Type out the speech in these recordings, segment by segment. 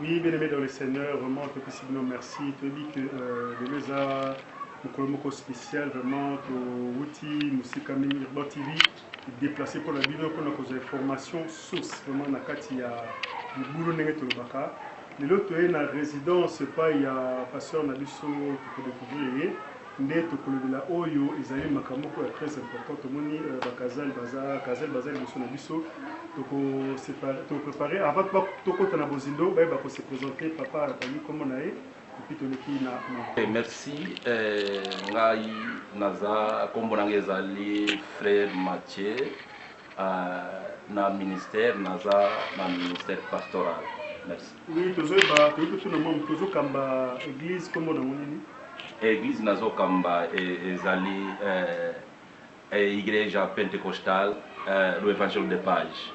Oui, bien aimé dans le Seigneur, vraiment, que puisse nous merci. Tu dis que euh, les deux a mokolo moko spécial, vraiment, to wuti musika mingi Urban TV déplacé pour la bino pour nos informations source vraiment na kati ya libulu ndenge tolobaka lelo toye na résidence epai ya pasteur na biso tokodécouvrir ye Nde tokolobela oyo ezali makambo moko ya tres important tomoni ba casal baza casal baza liboso na biso toko separe to prepare avant tokota na bozindo baye bako se presenter papa atangi kombo na ye epuis toleki na makambo. Merci ngai naza kombo na ngai ezali frere Mathieu. Uh, na ministère naza na ministère pastoral merci oui tozo ba tozo totuna mwa tozo kamba église kombo na nini église nazo kamba e, ezali eh, eh, igreja pentecostal eh, do evangelho de paz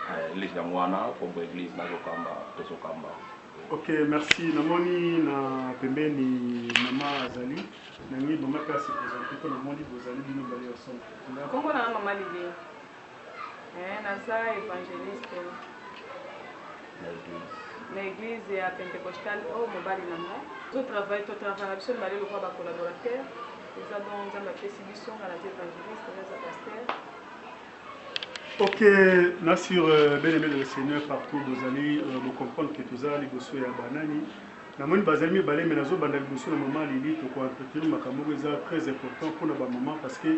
eh, église yango wana kombo église nazo kamba tozo kamba Ok merci na moni na pembeni mama azali na ngi mama pe ase presente mpo na moni bozali bino bale ya somo nkombo na mama libe eh, naza evangeliste na église ya pentecostal oyo oh, mobali na nga totravaille totravaille na biso mibale lokola bacollaborateur eza bongo nzambe apesi biso nga naza evangeliste naza paster Ok na sur bien aime de le seigneur partout bozali bo comprendre que toza liboso ya ba nani na moni bazali mibale mais nazo banda liboso na maman Lili toko entretenir makambo moko eza très important pona ba maman parce que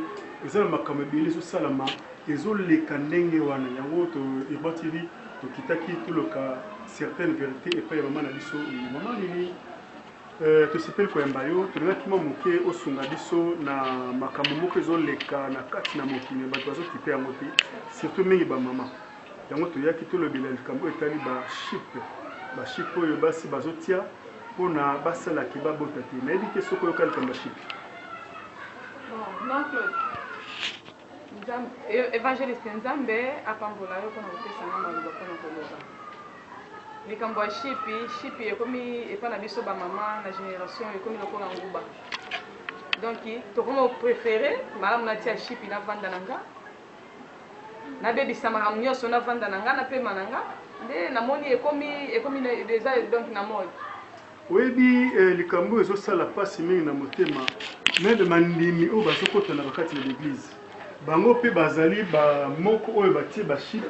eza na makambo ebele ezo salama ezo leka ndenge wana yango to Urban TV tokitaki toloka certaines verites epai ya maman na biso Lili maman Lili Euh, tosepeli koyamba yo. Tolingaki mwa moke osunga biso na makambo moko ezoleka na kati na mokili ya bato bazokipe yango te, surtout mingi bamama. Yango toyaki tolobela likambo oyo etali bashipe, bashipe oyo basi bazotia mpo na basala ke babota te. Nayebi te soki oyoka likambo ya shipe. Bon, Nzambe evangeliste nzambe apambola yo pona kopesa nga maloba pona koloba likambo ya shipi shipi ekomi epa na biso ba mama na generation ekomi lokola nguba donc tokomo prefere malamu natia shipi navanda na nga nabebisa makambo nyonso navanda na nga napema na nga nde namoni ekomi ekomi eza donc na mode Oyebi eh, likambo oyo ezosala pasi mingi na motema, meme bandimi oyo bazokota na bakati na baeglize bango mpe bazali bamoko oyo batie baship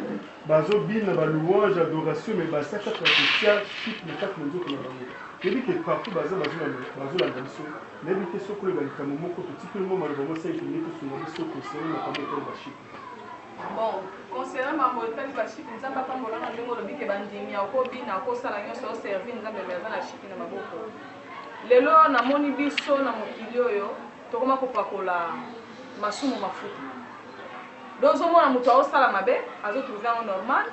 bazobina balouange adoration me baza kaka kotia ship na kati na nzoto na bango toyebi ke partout baza bazolanda biso nayebi te soki oyeba likambo moko totikeli mwa maloba mwa 5 minute osunga biso kosele makambo ekolo baship Bon, concernant mambo etali ba chic, Nzambe apambola na ndenge olobi ke bandimi ya ko bina, ko sala nionso, o servir Nzambe mais aza na chic na maboko. Lelo na moni biso na mokili oyo tokoma kopakola masumu mafuta. Donc ozo mona moto ao sala mabe, azo trouver yango normal,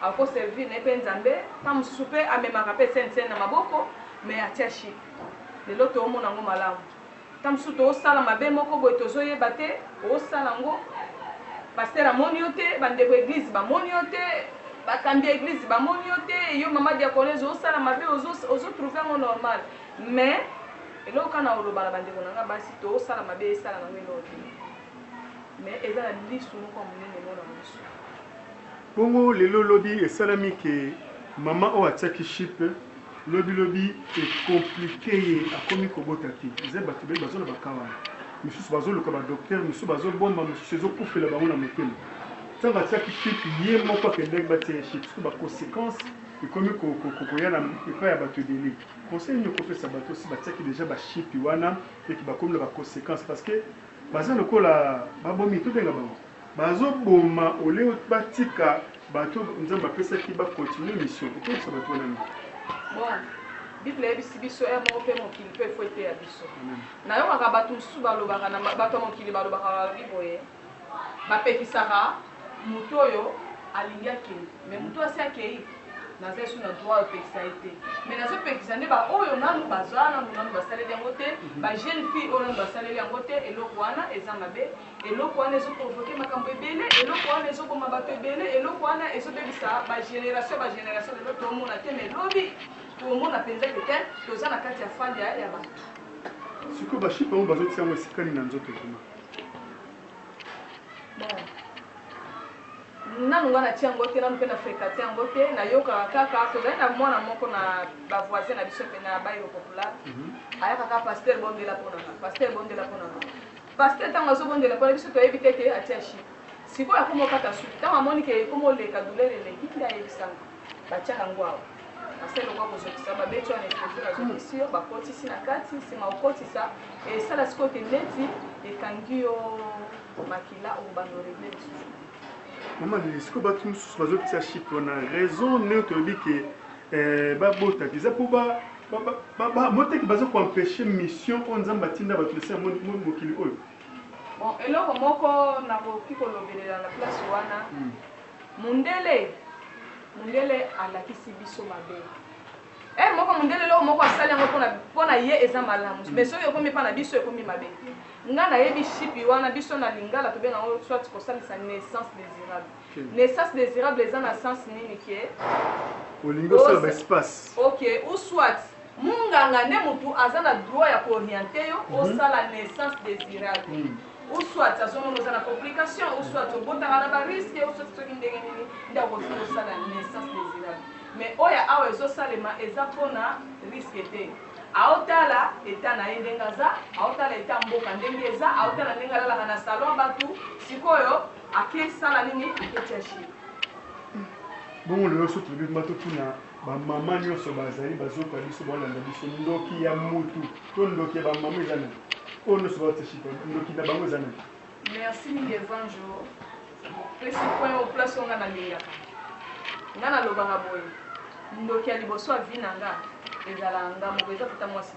ako servir na ye pe Nzambe, tango mosusu pe amemaka pe scène scène na maboko mais atia chic. Lelo tomona yango malamu. Tango mosusu tozo sala mabe moko boye tozo yeba te, ozo sala yango pasteur amoni yo te, ba ndeko ya eglise ba moni yo te, ba kambi ya eglise ba moni yo te, yo maman diaconese ozo sala mabe ozo trouve yango normal mais eloko kaka nako loba na ba ndeko na nga basi tozo sala mabe esala na nga eloko te mais eza na lisu moko ya munene mwana musu. Bongo lelo lobi esalami que maman oyo atiaki chip lobi lobi e complique ye akomi kobota te eza batu ebele baza na ba cas wana misusu bazo luka ba docteur misusu bazo bomba mususu ezo kufela bango na motema tango atiaki chip ye moko akendaki batia ye chip sikoyo ba consequence ekomi koya na epai ya batu ebele conseil nini okopesa batu osi batiaki deja ba chip wana et que bakomi na ba consequence parce que baza lokola ba bomi tobenga bango Bazo boma au lieu batika batu oyo nzambe apesaki ba continuer mission okebisa batu wana mingi. Bon bible eyebisi biso heure moko mpe mokili mpe faut eteya biso nayokaka bato mosusu balobaka na bato ya mokili balobaka balobi boye bapekisaka moto oyo alingi akei me moto oyo asi akei naza esu na droit opekisa ye te me nazopekisa nde baoyo nanu baza nanu nanu basaleli yango te bajeune fille oyo nanu basaleli yango te eloko wana eza mabe Eloko wana ezo provoquer makambo ebele, eloko wana ezo boma batu ebele, eloko wana ezo bebisa ba generations ba generations, lelo to mona te mais lobi toko mona penza que te toza na kati ya fally ya ya batu. Sikoyo ba chipe yango bazo tia yango esika nini na nzoto vraiment? Bon. Nanu nga na tia yango te, nanu pe na frekate yango te, na yokaka kaka, tozali na mwana moko na ba voisin na biso pe na bayo popula, ayaka kaka pasteur bondela po na nga, pasteur bondela po na nga. Pasteur tango azo bondela pona biso toyebi te ke atia jus sikoyo akomo kata suki tango amoni ke ekomo leka douleur eleki nde ayebisanga batiaka ngo awa pasteur lokola kozokisa babeti wana epouse bazokisi yo bakotisi na kati sima okotisa esala sikoyo ke neti ekangi yo makila okobanda oregle lisusu Maman Lili, sikoyo batu mosusu bazotia chic wana raison nini toyebi ke Eh ba botaki eza po ba ba moteki baza ko empecher mission oyo Nzambe atinda bato na se ya mokili oyo. Bon eloko moko nakoki kolobelela na place wana mundele mundele alakisi biso mabe heure moko mundele eloko moko asali yango pona pona ye eza malamu mais soki ekomi epa na biso ekomi mabe nga nayebi shipi wana biso na lingala tobenga yango soit kosalisa naissance desirable Naissance desirable eza na sens nini ke olingi osala ba espace? Ok, ou soit munganga nde mutu aza na droit ya ko orienter yo mhm. osala naissance desirable. Mm -hmm. ou soit azomona oza na complication ou soit obotaka na bariske ou soit soki ndenge nini nde akoki kosala naissance désirable mais oyo ya awa ezosalema eza mpona riske te aotala eta na ye ndenge aza aotala eta mboka ndenge eza aotala ndenge alalaka na salon bato sikoyo Ake sala nini ake tia chine. Bongo lelo so tolobi kuma totuna bamama nyonso bazali bazoka biso baolanda biso ndoki ya mutu to ndoki ya bamama eza nani oyo nyonso baoteship ndoki na bango eza nani merci mingi evange opesi point o place oyo nga nalingaka nga nalobaka boye ndoki ya liboso ya vi na nga ezalaka nga moko eza tata mwasi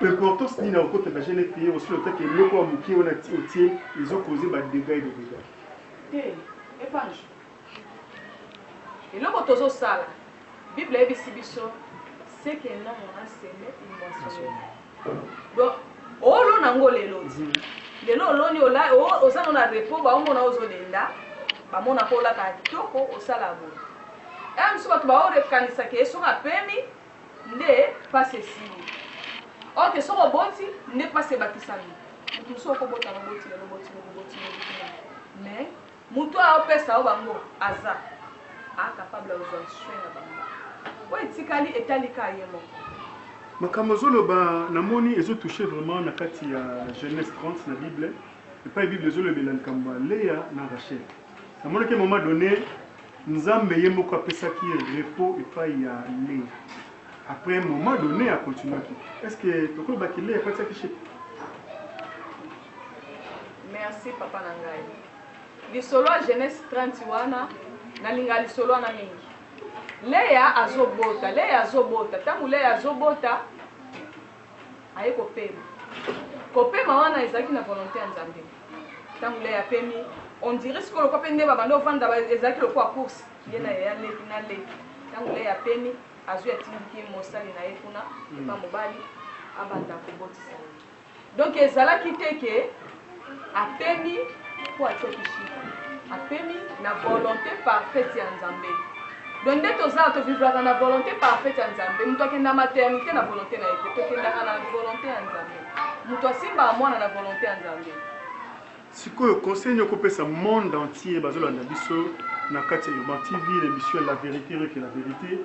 Importance nini akokota na jeune fille osi otaki eloko ya mukie wana ti otie ezo cause ba degats et des degats. Te epange eloko tozo sala bible ayebisi biso ce que un homme a seme il moissonnera donc olo nango lelo ti lelo oloni oza no na repos baomona ozodenda bamona ko olaka kitoko osala boye aya eh, mosusu bato baorekanisa ke soki apemi nde pasi esili or que soki oboti nde pasi ebakisami mutu mosusu okobota na oboti lelo oboti lobi oboti lobi kuna mais mutu oyo aopesa yo bango aza a capable ya kozwa soin na bango oyo etikali etali ka ye moko makambo ozoloba namoni ezotouche vraiment na kati ya genèse 30 na bible epai bible ezolobela likambo ya lea na rachel Namonaki à un moment donné, Nzambe ye moko apesaki ye repos epai ya Lea. Après un moment donné, a continuaki. Est-ce que tokoki ba ki Lea apatisaki chez Merci papa na ngai. Lisolo ya Genèse 30 wana nalinga lisolo wana mingi. Lea azobota, Lea azobota, ntango Lea azobota aye kopema. Kopema wana ezalaki na volonte ya Nzambe. Tango Lea apemi, on dirait sikoyo lokola pe nde babanda kovanda, ba, ezalaki lokola course, ye na yaya leki, na leki. Tango Lea apemi, azui atindiki ye mosali na ye kuna, epa mobali, abanda kobotisa ye. Donc ezalaki te ke. Apemi po atioki chiffre. Apemi na volonte parfaite ya Nzambe. Donc nde toza to vivraka na volonte parfaite ya Nzambe. Mutu akenda maternite na volonte na ye te. Tokendaka na volonte ya Nzambe. Mutu asimbaka mwana na volonte ya Nzambe. Sikoyo conseil nini okopesa monde entier bazolanda biso na kati ya Urban TV na emission La Verite Rien que la Verite?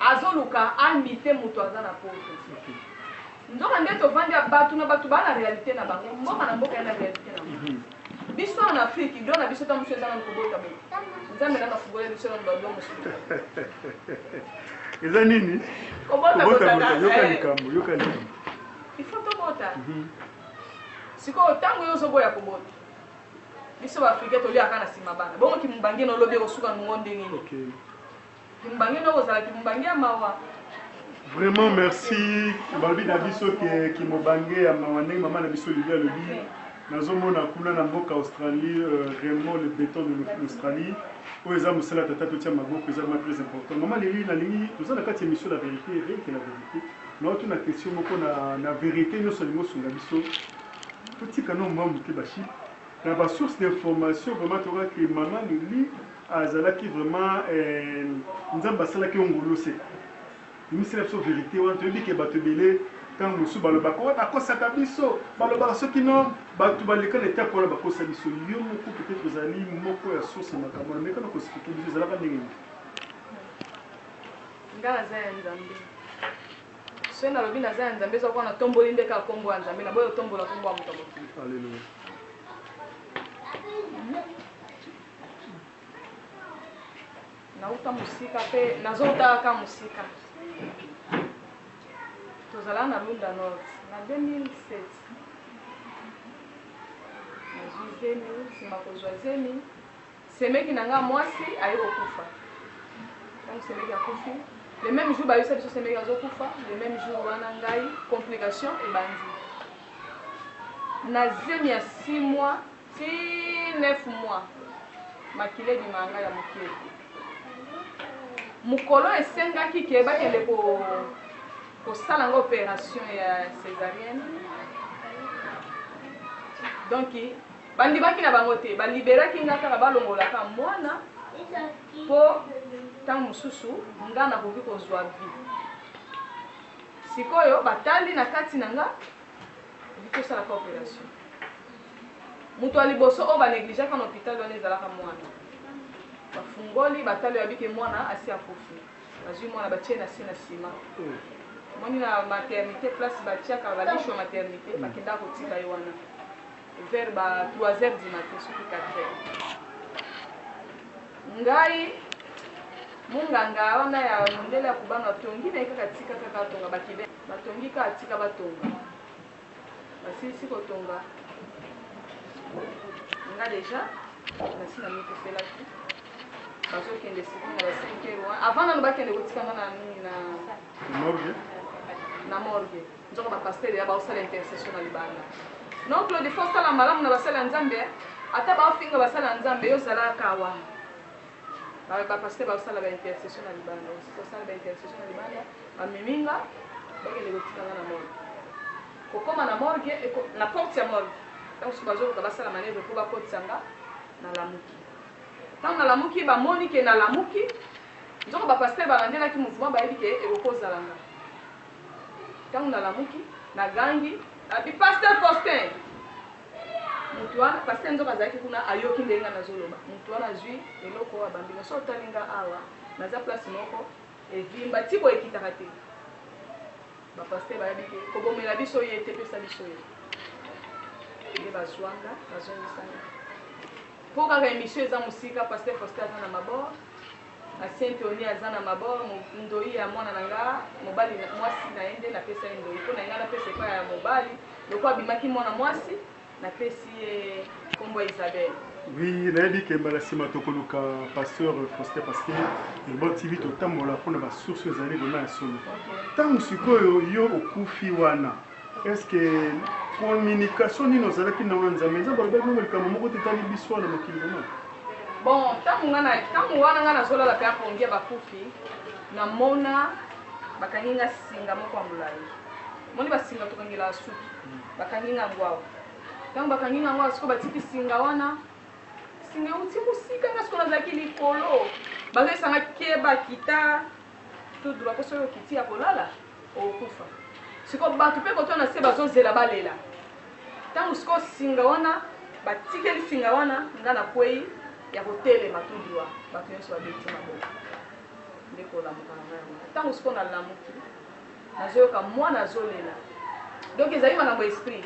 Azoluka a mite mutu aza na poto nzoka nde tovandi ya batu na batu ba na realite na bango mboka na mboka ena realite na ngo biso awa na afrique idole na biso ta musu eza nanu kobota boye nzambe nanu afugola biso nanu ba dongo eza nini kobota bota yoka eh. likambo yoka likambo il faut tobota mhm. sikoyo ntango yo ozoboya kobota biso baafrika toliaka na nsima bana bongo kimubange na olobi ekosuka nongo ndenge nini Kimbangue noko ozala kimbangue ya mawa. Vraiment merci balobi na biso ke kimobange ya mawa ndenge mama na biso Lili alobi nazomona kuna na mboka Australie euh, Raymond le béton de l'Australie oyo eza mosala tata totia maboko eza ma très important mama Lili nalingi toza na kati émission la vérité rien que la vérité na oto na question moko na, na vérité nyonso alingi osunga biso totika no mwa moke baship na basource d'information vraiment tokaki mama Lili Azalaki vraiment eeh nzambe asalaki yo ngulu se bimisela biso verite wana toyebi ke batu ebele tangu mosusu balobaka oh bakosaka biso balobaka soki no batu baleka na etape wana bakosa biso yo moko peut etre ozali moko ya source ya makambo wana meka na kosplike biso ezalaka ndenge nini nga naza ya nzambe soki nalobi naza ya nzambe ezwa kwana tomboli nde kaka kombo ya nzambe na boye otombola kombo ya moto ya mokili nauta mosika mpe nazouta kaka mosika tozalaka na lunda nord na 2007 nazwi zemi nsima kozwa zemi semeki na nga mwasi aye kokufa ntango semeki akufi le même jour bayebisa biso semeki azokufa le même jour wana ngai complication ebandi na zemi ya 6 mois Ti neuf mois makila ebimaka nga ya mukie mukolo esengaki ke bakende ko kosala nga operation ya cesarienne donc bandimaki na bango te baliberaki nga kaka balongolaka mwana po ntango mosusu nga nakoki kozwa vi sikoyo batali na kati na nga okoki osalaka operation Mutu ya liboso oyo ba negligaka na hopital wana ezalaka muana. Bafungoli batali oyabi ke muana asi akufi. Bazui muana batie nase na ciment. Omoni na maternite place batiaka ba licho ya maternite bakendaka kotika ye wana vers ba trois heures du matin soki quatre heures. Ngai munganga wana ya mundele ya kubanga atongi naye kaka atika kaka atonga ba kibele batongi kaka atika batonga. basilisi kotonga nga deja nasi na mikufelaki bazokende sikoyo na ba 5 heures wana avant nano bakende kotikanga na nini na morgue na morgue nzoko bapastere ya baosala intercession na libanda non claude fo osala malamu na basala ya nzambe ata baofinga basala ya nzambe yo zalaka wana ba ba pasteur ba sala ba intercession na libanda ba sisa sala ba intercession na libanda ba mimi nga ba kende ko tika nga na morgue ko koma na morgue et na porte ya morgue tango su bazo luka ba sala manevre po ba kotisa nga na lamuki tango na lamuki ba moni ke na lamuki nzoko ba pasteur ba landelaki mouvement ba yebi ke ekoko zala nga tango na lamuki na gangi abi pasteur Faustin Mutu wana pasteur nzoka azalaki kuna ayoki ndenge nga nazo loba mutu wana azui eloko oyo abambi nga soki otali nga awa naza place moko evimba ti boye ekitaka te ba pasteur bayebi ke kobomela biso ye te pesa biso ye nde bazua nga bazongisa nga po kaka emission eza mosika pasteur Faustin aza na mabord Na saint tony aza na mabor ndoyi ya mwana na nga mobali mwasi na ye nde na pesa ye ndoyi pona nga na pesa epa ya mobali loko abimaki mwana mwasi na pesi ye kombo ya isabelle. Oui na yebi ke mbala sima toko luka pasteur Faustin parce que Urban TV to tambola pona ba source ezali vraiment ya solo tangu sikoyo yo okufi wana Est-ce que communication nini ozalaki na wana Nzambe? Nzambe alobaki na likambo moko te tali biso wana mokili vraiment. Bon, tango nga na tango wana nga nazolala pe apongi ya bakufi, namona bakangi nga singa moko ya molayi. Moni ba singa tokangelaka suki. Bakangi nga yango awa. Tango bakangi nga yango awa sikoyo batiki singa wana. Singa euti mosika nga sikoyo nazalaki likolo. Bazoyebisa nga keba kita tout droit po soki okiti ya kolala okokufa siko bato mpe koto na se bazozela balela ntango siko singa wana batikeli singa wana nga na kwei ya kotelema tout droit bato nyonso babeti maboko nde kolamuka na ngai yango ntango siko nalamuki Nazoyoka mwana azolela donc ezali makambo ya esprit.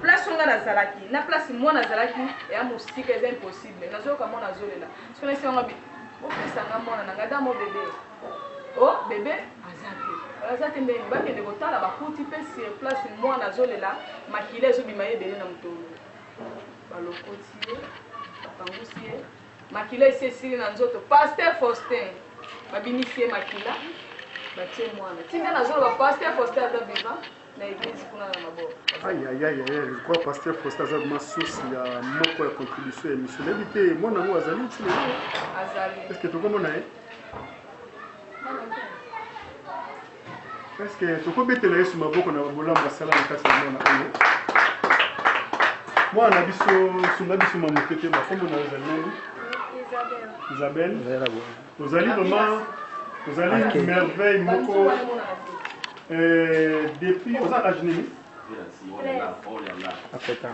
Place oyo nga nazalaki na place mwana azalaki eya mosika, eza impossible. Nazoyoka mwana azolela soki nasenga nga bi bopesa nga mwana na nga dans mon bebe oh bebe aza te aza te ndenge bakende kotala bakuti pe sur place mwana azolela makila ezobima ye ebele na motolo balokoti ye bapangusi ye Makila esi esili na nzoto pasteur Faustin babimisi ye makila batie mwana ti nde nazoloba pasteur Faustin aza vivant na eglise kuna na maboko ayayayaya je crois pasteur Faustin aza vraiment source ya moko ya contribution ya émission nayebi te mwana yango azali ti lelo azali est ce que tokomona ye Est-ce que tokobetela Yesu maboko na bolamu asala na kati ya mwana oyo? Mwana na biso sunga biso mwa moke te, bakombo na yo ezali nani? Isabelle. Ozali vraiment ozali Ok. merveille moko euh, depuis oza age nini? Akota.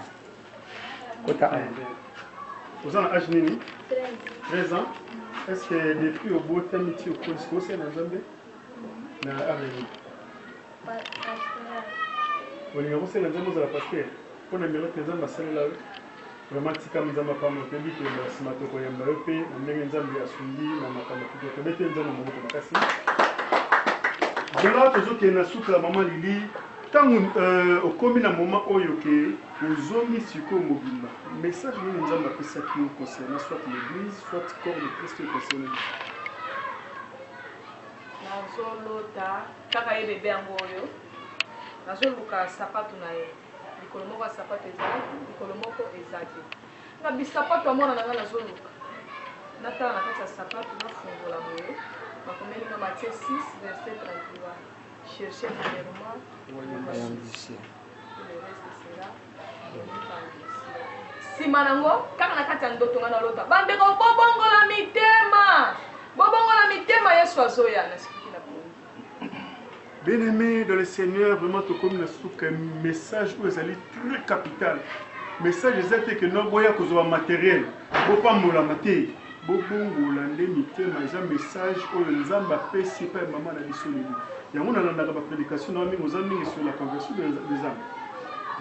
Kota awa. Oza na age nini? 13 ans. Est-ce que depuis obotami ti okolisi kosela Nzambe? olinga kosenga nzambe ozala paster mpo na miracle nzambe asalela yo vraiment tikami nzambe apamba otebi koyemba na nsima tokoyemba yo mpe na ndenge nzambe asungi na makambo kutu tobete nzambe maboko makasi lelo tozokende na suka ya mama lili ntango euh, okomi na moma oyo ke ozongi sikoyo mobimba message nini nzambe apesaki yo concernant soit l'église soit corps de christ concernant Nazo lota kaka ye bebe yango oyo nazo luka sapatu na ye likolo moko ya sapatu ezalaki likolo moko ezaki na bisapatu ya mwana na ngai nazo luka natala na kati ya sapatu nafungola boye bakomeli nga matie 6 verse 31 cherche premièrement le reste sera nsima nango kaka na kati ya ndoto nga nalota bandeko bobongola mitema bobongola mitema yesu azoya nasikuki na pongi bien aimé dans le seigneur vraiment tokomi na suka message oyo ezali très capital message eza te ke no boya kozwa materiel Bopambolama te bobongola nde mitema eza message oyo nzambe apesi epai maman na biso lelo yango nalandaka ba predication na mingi oza mingi sur la conversion de nzambe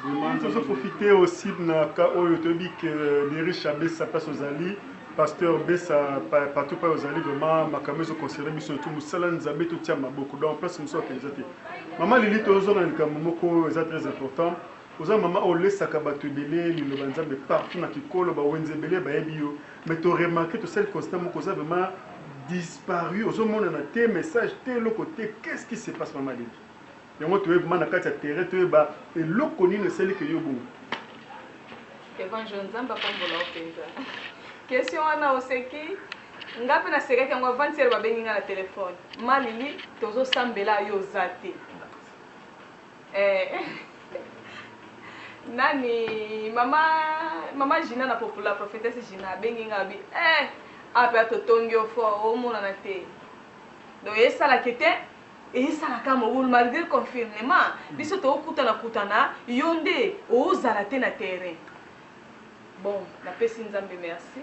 vraiment nzambe profite aussi na ka oyo toyebi que les riches abesa place ozali pasteur besa partout pa ozali vraiment makambo ezo concerne biso tout musala nzambe totia maboko donc place mosusu akende eza te maman lili tozonga na likambo moko eza très important Oza maman o lesaka batu ebele liloba nzambe partout na kikolo ba wenze ebele ba yebi yo mais to remarque to sali constat moko oza vraiment disparu ozo monana te message te eloko te qu'est ce qui se passe maman leki yango to yebma na kati ya terrain to yeba eloko nini esali ke yo bongo Evangel nzambe apambola yo penza question wana oseki nga pe na sekaki yango avant hier ba bengi nga na telephone ma lili tozo sambela yo oza te Eh nani mama mama Gina na popula prophetesse Gina abengi nga abi eh awa pe totongi yo fort omonana te donc esala ke te esala ka mobulu malgre confinement biso tokutana kutana yo nde ozala te na terrain bon napesi nzambe merci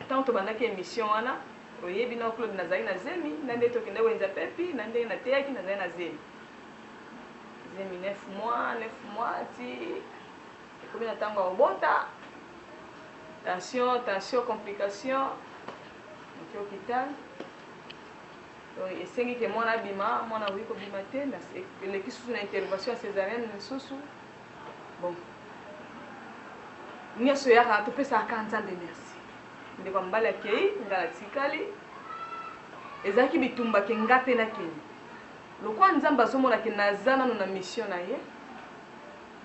ntango tobandaki emission wana oyebi na claude nazali na zemi na nde tokende wenza pepi na nde nateyaki nazali na zemi zemi 9 mois 9 mois ti ekomi na ntango ya kobota tension tension complication moki hôpital esengi ke mwana abima mwana akoki kobima te eleki susu na intervention ya césarienne lisusu bon nyonso eyaka topesaka kaka nzambe merci ndeko ya mobali akei ngai natikali ezalaki bitumba ke ngai mpe nakei Lokola nzambe azomona ke naza nanu na mission na ye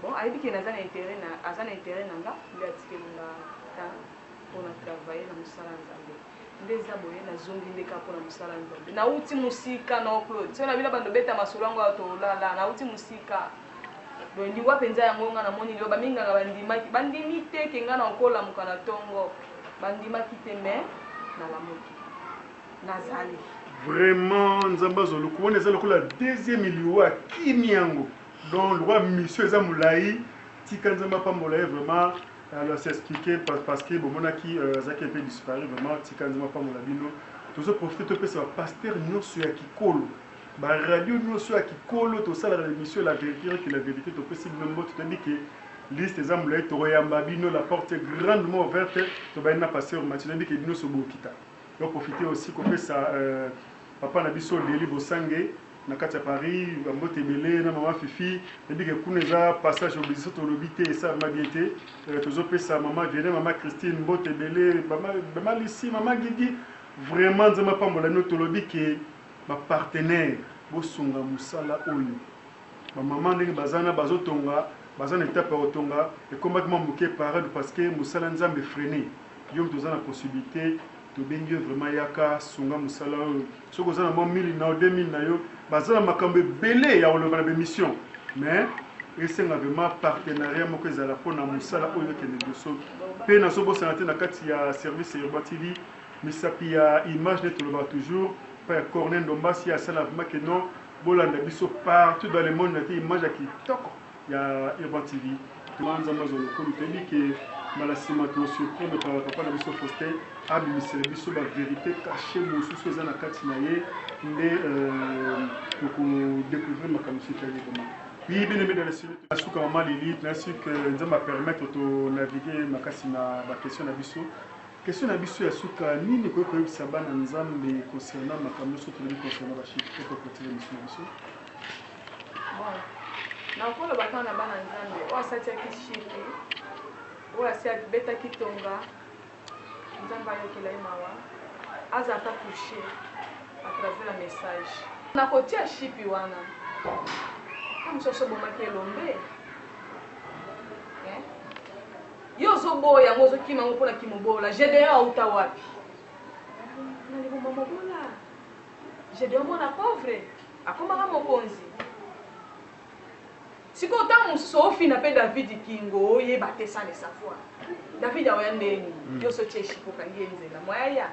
bon ayebi ke naza na interet na aza na interet na nga nde atikeli nga temps po na travailler na musala ya nzambe nde eza boye na zongi nde kaka po na musala ya nzambe na wuti musika noo claude soki na bino bando beta masolo yango ya tolala na wuti musika donc liwa mpenza yango nga namoni liwa baminganga bandimaki bandimi te ke nga na okolamuka na tongo bandimaki te mais nalamuki nazali vraiment nzambe azwa lokumu wana eza lokola deuxième liwa akimi yango donc lokola mission eza molai tika nzambe apambola ye vraiment alors c'est expliqué parce que bomonaki euh, azalaki mpe disparu vraiment tika nzambe apambola bino tozo profite topesa bapaster nyonso ya kikolo baradio nyonso ya kikolo tosalaka émission la vérité que la vérité topesi bino mbote toyebi ke liste eza molai tokoyamba bino la porte grandement ouverte tobandi na pasteur mati toyebi ke bino sobokita To profiter aussi ko pesa papa na biso Delly Bosange na kati ya Paris ba mbote ebele na maman Fifi nayebi ke kuna eza passage oblige soki tolobi te esalema bien te tozo pesa maman Vianney maman Christine mbote ebele maman Lucie maman Gigi vraiment Nzambe apambola bino tolobi ke ba partenaires bosunga mosala oyo Ba maman ndenge baza na bazo tonga baza na etape ya kotonga ekomaki mwa muke pare du pasque musala nzambe efrene yo mutu oza na possibilite tobengi yo vraiment yaka sunga musala oyo soki oza na mwa 1000 nao 2000 na yo baza na makambo ebele ya koloba na b'emission mais esenga vraiment partenariat moko ezala mpo na musala oyo ekende liboso mpe nazobosana te na kati ya service ya urban tv misapi ya image nde tolobaka toujours mpe ya corne ndombasi asala vraiment que non Bolanda biso partout dans le monde na ki image ya kitoko ya Urban TV. Vraiment Nzambe azwa lokumu. Toyebi ke mbala sima to surprendre par papa na biso Faustin abimisela biso ba verite cache mosusu eza na kati na ye nde euh, toko découvrir makambo mosusu etali ye vraiment. Oui, bien aimé dans la série, la souka maman Lilith, la souka, nous avons permettre de naviguer ma casse na ba question na biso. Question na biso ya suka, nini okoki koyebisa bana Nzambe concernant makambo nionso tolobi concernant ba chiffres? Okoki kotiela misu na biso? Bon, nakoloba kaka na bana Nzambe, oyo asi atiaki chiffre, oyo asi abetaki tonga, Nzambe ayokela ye mawa, azala ata toucher à travers ya message. Na kotia chipi wana, oyo mosusu asi obomaki elombe eh? Yo ozo boya yango ozo kima yango pona kimobola Gedeon awuta wapi? Na liboma mobola Gedeon mwana pauvre akomaka mokonzi sikoyo ntango mosusu ofina mpe davidi kingo oyeba te sale savoir davidi aoya ndenge nini mm. yo soki eshi kokangi ye nzela mwaya ya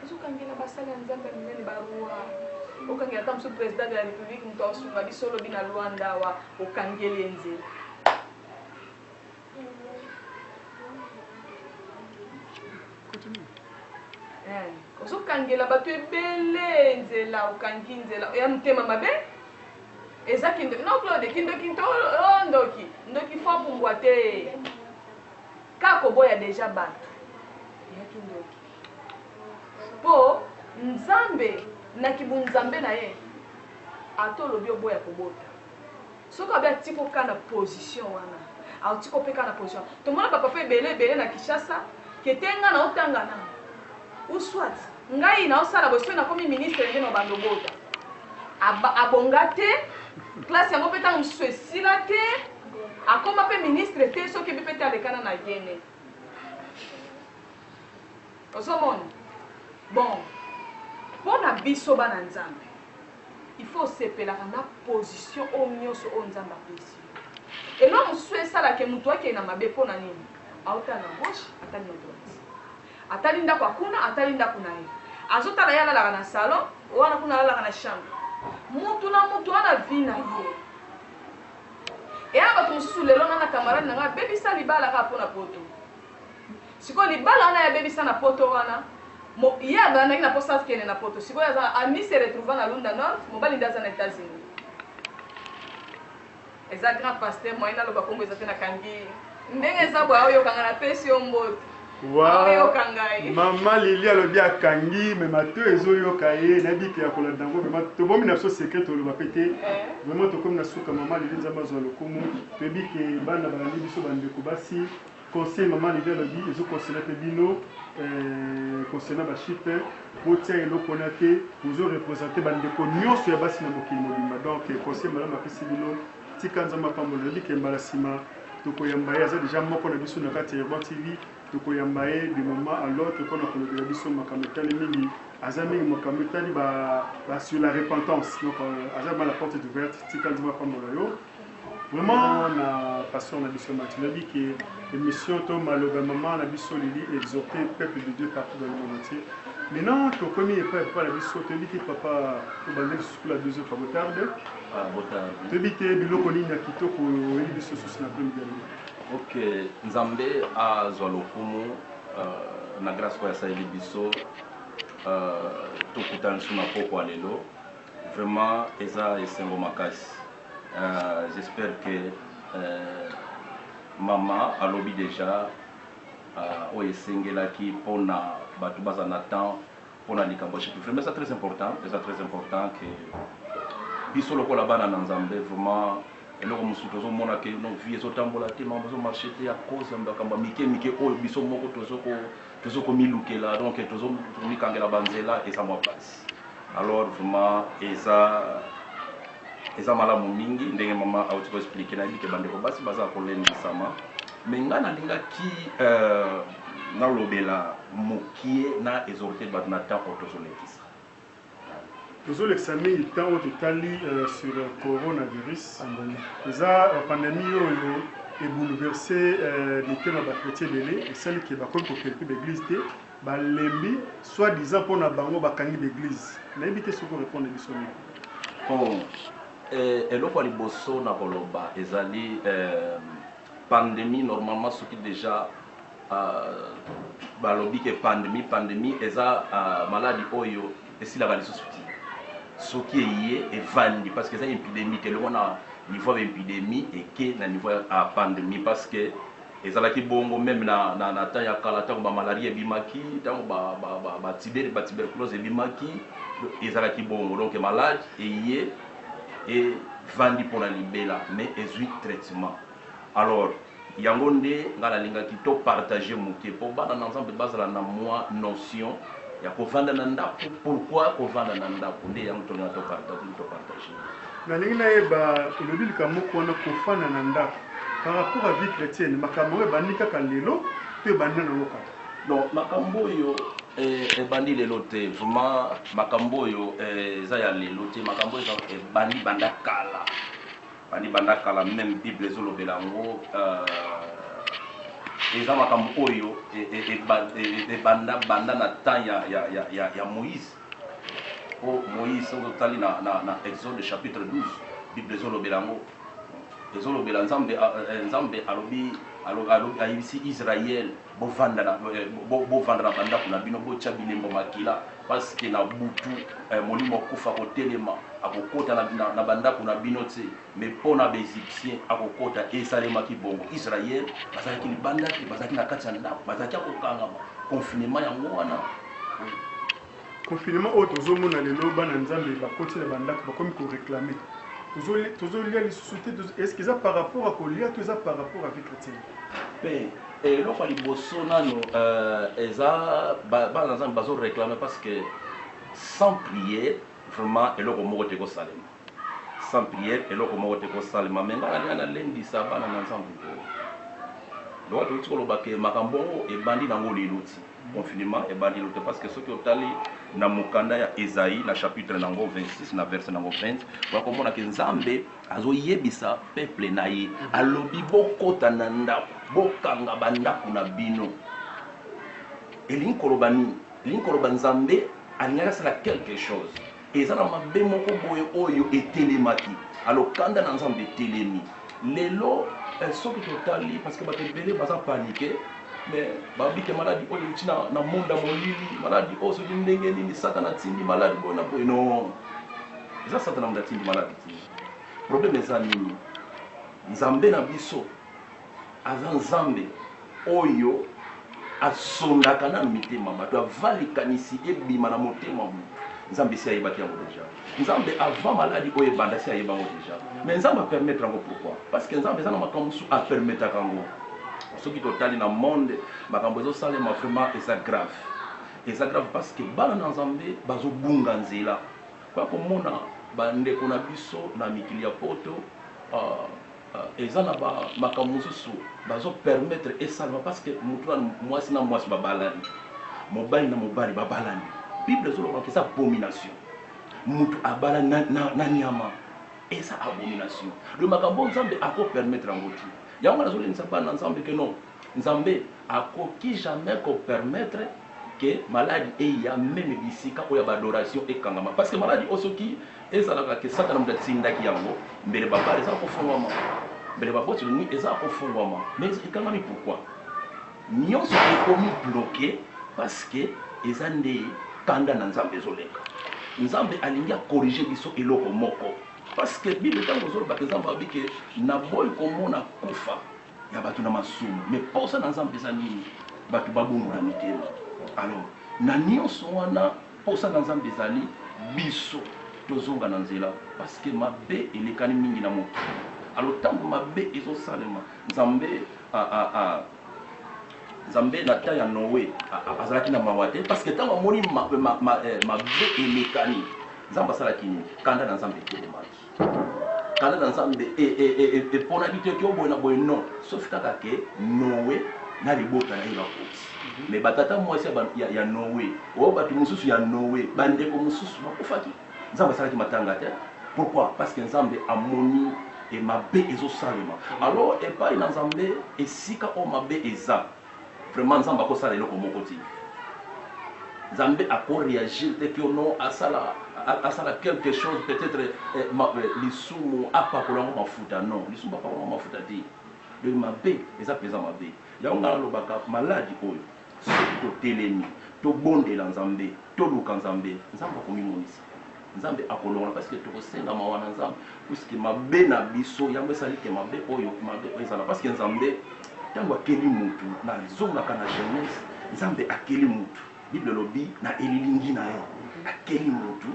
ozokangela basali ya nzambe ya minene barua okangela ata mosusu president de la république moto aosunga biso olobi na lwanda awa okangeli ye nzela eh, ozokangela bato ebele nzela okangi nzela ya motema mabe eza kindoki no claude kindoki to oh, ndoki ndoki fo apumbwa te kaka oboya deja bato ya kindoki Po Nzambe na ki bunzambe na ye ata olobi oboya kobota soki alobi atiki yo kaka na position wana atiki yo pe kaka na position wana. Tomona ba papa ebele ebele na Kinshasa que te nga nao tanga nanu ou soit ngai nao sala boye soki nakomi ministre nde nao banda obota. Abonga te classe yango pe tango mosusu esila te akoma pe ministre te soki ebi pe te alekana na Gene. ozomona bon pona biso bana nzambe il faut osepelaka na position oyo nyonso oyo nzambe apesi elo mosusu esalake moto akei na mabe mpo na nini aotala na gauche atali na droite atali ndako akuna atali ndako na ye azotala ye alalaka na salon wana kuna alalaka na chambre motu na motu wana vi na ye eya bato mosusu lelo na na camarade na ngai abebisa libala kaka mpo na poto Sikoyo libala wana ye abebisa na poto wana mo, ye abandaki na posa akende na poto sikoyo aza na ami se retrouva na lunda north mobali nde aza na etats unis eza grand pasteur moyen naloba kombo eza te na kangi ndenge eza boya oyoka nga na pesi yo mbote mama lili alobi akangi me mato ezoyoka ye nayebi ke ya kolanda yango vrema tobomi na biso sekre toloba mpe te vraimen tokomi na suka mama lili nzambe azwa lokumu toyebi ke bana balandi biso bandeko basi Conseil maman Lydie alobi ezo concerne pe bino eh, concernant ba chiffres botia eloko wana te, bozo representer ba ndeko nionso ya basi na mokili mobimba donc eh, conseil malamu apesi bino, tika Nzambe apambola. Alobi ke mbala sima tokoyamba ye, aza deja moko na biso na kati ya Urban TV, tokoyamba ye de moment à l'autre pona kolobela biso makambo etali mingi, aza mingi makambo etali ba, ba sur la repentance donc eh, aza vraiment la porte est ouverte, tika Nzambe apambola yo. Vraiment na pasteur na biso Mathieu lobi que émission to maloba maman na biso Lili exhorter peuple de Dieu partout dans le monde entier. Maintenant tokomi epai papa na biso toyebi te papa tobandi lisusu kula deux autres botarde ah, toyebi te biloko nini ya kitoko oyebi biso susu na prime de ok nzambe azwa lokumu euh, na grâce oyo asaleli biso euh, tokutana lisusu na pokwa lelo Vraiment eza esengo makasi j'espère que maman alobi dejà oyo esengelaki pona batu bazala na temps pona likambo ya chez vraiment eza très important eza très important que biso lokola bana na Nzambe vraiment eloko mosusu tozomona ke no vie ezotambola te makambo ezo marche te à cause ya makambo ya mike mike oyo biso moko tozo ko tozo komilukela donc tozo komikangela ba nzela eza mwa pasi alors vraiment eza eza malamu mingi ndenge mama auti ko expliquer nayebi ke bandeko basi baza kolendisama mais ngai nalingaki euh, nalobela mokie na exhorte bato na temps oyo tozolekisa Tozo lekisa mingi temps oyo totali sur corona virus eza pandemie oyo e bouleverse mitema ba chretiens ebele esali ke bakomi ko frekter ba eglise te ba lembi soit disant pona bango ba kangi ba eglise nayebi te soki oko repondre biso nini. Bon eloko ya liboso na koloba ezali. Pandemie normalement soki dejà balobi que pandemie pandemie eza maladi oyo esilaka lisusu te soki eye evandi parce que eza impidemie te elongwa na niveau ya ba impidemie eke na niveau ya pandemie parce que ezalaki bongo meme na na na temps ya kala tango ba malaria ebimaki tango ba ba ba ba tiber ba tuberculose ebimaki ezalaki bongo donc malade eye e vandi pona libela mais ezui traitement alors yango nde nga na lingaki to partager muke po bana na nzambe bazala na mua notion ya ko vanda na ndaku pourquoi ko vanda na ndaku nde yango to linga to partager to partager nalingi nayeba elobi likambo moko wana kofanda na ndako par rapport à vie chrétienne makambo yango ebandi kaka lelo to ebandi nango kaka Donc makambo oyo eh ebandi lelo te vraiment makambo oyo eh eza ya lelo te makambo oyo ebandi banda kala ebandi banda kala meme bible ezolobela yango euh, eza makambo oyo ebanda banda na temps ya, ya, ya, ya, ya moïse po moïse soki otali na, na, na exode chapitre 12 bible ezolobela yango Ezolobela nzambe eh, nzambe alobi alobi ayebisi Israël bovanda na eh, bovanda na bandako na bino botia bilembo makila parce que na butu eh, molimo kufa kotelema akokota na, na, na bandako na bino te mais mpo na baegyptien akokota esalemaki bongo Israël bazalaki libanda te bazalaki na kati ya ndako bazalaki ya kokangama confinement yango wana Confinement oyo tozo mona lelo bana nzambe ba koti na ba ndaku ba komi ko reclame tozo lia lisusu te est ce que eza par rapport ya kolia to eza par rapport ya vie chretienne? Pe eloko ya liboso nanu euh eza bana nzambe bazo reclame parce que sans prier vraiment eloko moko te ko salema sans prière eloko moko te ko salema mais nga nalinga na lendisa bana na nzambe boye lokola tozo tika koloba ke makambo yango ebandi nango lelo ti Confinement ebandi lelo te, parceque soki otali na mokanda ya Esaie na chapitre na yango 26 na verse na yango 20, oya komona ke Nzambe azo yebisa peuple na ye, alobi bokota na ndaku, bokanga ba ndaku na bino. Elingi koloba nini? Elingi koloba Nzambe alingaki asala quelque chose. Eza na mabe moko boye oyo etelemaki. Alors kanda na Nzambe etelemi. Lelo soki totali parce que batu ebele baza panique mais babi ke maladi oyo euti na monde ya molili, maladi oyo soki ndenge nini satana atindi maladi boye na boye. Non, eza satana mutu atindi maladi te. Probleme eza nini? Nzambe na biso. Aza Nzambe oyo asondaka nanu mitema bato avant likanisi ebima na motema ya mutu. Nzambe esi ayebaki yango dejà. Nzambe avant maladi oyo ebanda esi ayeba yango dejà. Mais Nzambe a permettre yango pourquoi? Parce que Nzambe eza na makambo mususu a permetaka yango. Soki totali na monde makambo ezo salema vraiment eza grave. Eza grave parce que bana na Nzambe bazo bunga nzela. Oya komona ba ndeko na biso na mikili ya poto uh, Eza na ba makambo mosusu bazo permettre esalema parce que mutu na muasi na muasi ba balani, mobali na mobali ba balani. Bible ezo loba que eza abomination mutu abalani na, na, na niama. Eza abomination. Donc makambo oyo Nzambe ako permettre yango te. Yango nazo lendisa bana na Nzambe que non, Nzambe akoki jamais ko permettre que maladi eya meme bisika oyo ya ba adoration ekangama parce que maladi oyo soki ezalaka que satana mutu atindaki yango mbele ba bar eza kofongwama mbele ba boite de nuit eza kofongwama mais ekangami pourquoi? Nionso ekomi bloque parce que eza nde kanda na Nzambe ezo leka Nzambe alingi a corriger biso eloko moko parce que bible tango ezo loba que Nzambe alobi que naboyi komona kufa ya bato na masumu me mposa na nzambe eza nini bato babongola mitema alors na nyonso wana mposa na nzambe ezali biso tozonga na nzela parce que mabe elekani mingi na mokili alors ntango mabe ezosalema nzambe a, a, a, nzambe na temps ya noe azalaki na mawa te parce que ntango amoni mabe elekani nzambe asalaki nini kanda na nzambe etelemaki Kanda na Nzambe eponaki te ete oboye na boye, non, sauf kaka ke Noe na libota na ye bakufi. Mais ba tata mwasi ya Noe, oyo batu mosusu ya Noe, ba ndeko mosusu bakufaki. Nzambe asalaki matanga te. Pourquoi? Parce que Nzambe amoni mabe ezosalema. Alors epayi na Nzambe esika oyo mabe eza. Vraiment nzambe ako sala eloko moko te nzambe ako reagir te que non asala asala quelque chose peut etre lisumu apakola ngo mafuta non lisumu ba pakola ngo mafuta te donc mabe eza penza mabe yango nga na lobaka maladi oyo soki to telemi to bondela nzambe to luka nzambe nzambe ako mimonisa Nzambe akolongola parce que tokosenga mawa na Nzambe puisque mabe na biso yango esali ke mabe oyo mabe oyo ezala parce que Nzambe ntango akeli mutu na zongaka na Genèse Nzambe akeli mutu Bible elobi na elilingi na ye akeli mutu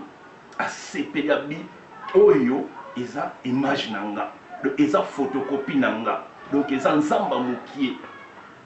asepeli abi oyo eza image na nga donc eza photocopie na nga donc eza Nzamba mukie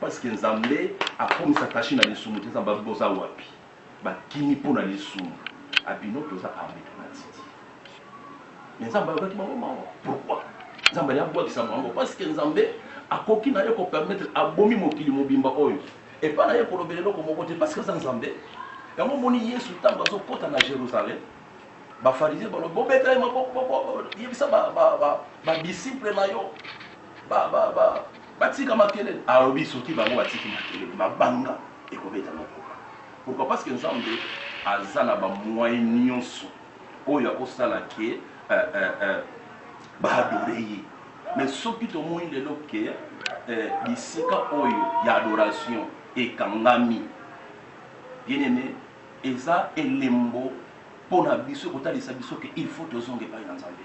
Parce que nzambe akomisa kashi na lisumu te nzambe boza wapi bakimi mpo na lisumu abino toza arme mpo na titi me nzambe ayokaki bango mawa pourquoi nzambe aye abwakisa bango parce que nzambe akoki na ye kopermettre abomi mokili mobimba oyo epai na ye kolobela eloko moko te parce que aza nzambe yango omoni yesu ntango azokɔta na jérusalem bafarisie balobi bobeta ye maboko yebisa badisiple na yo Ba ba ba batika makelele alobi soki bango batiki makelele mabanga ekobeta lokola pourquoi parce que nzambe aza na ba moyen nioso oyo akosala ke eh, eh, eh, ba adore ye mais soki tomoni lelo ke eh, bisika oyo ya adoration ekangami bien aime eza elembo mpo na biso kotalisa biso ke il faut tozonga epai na nzambe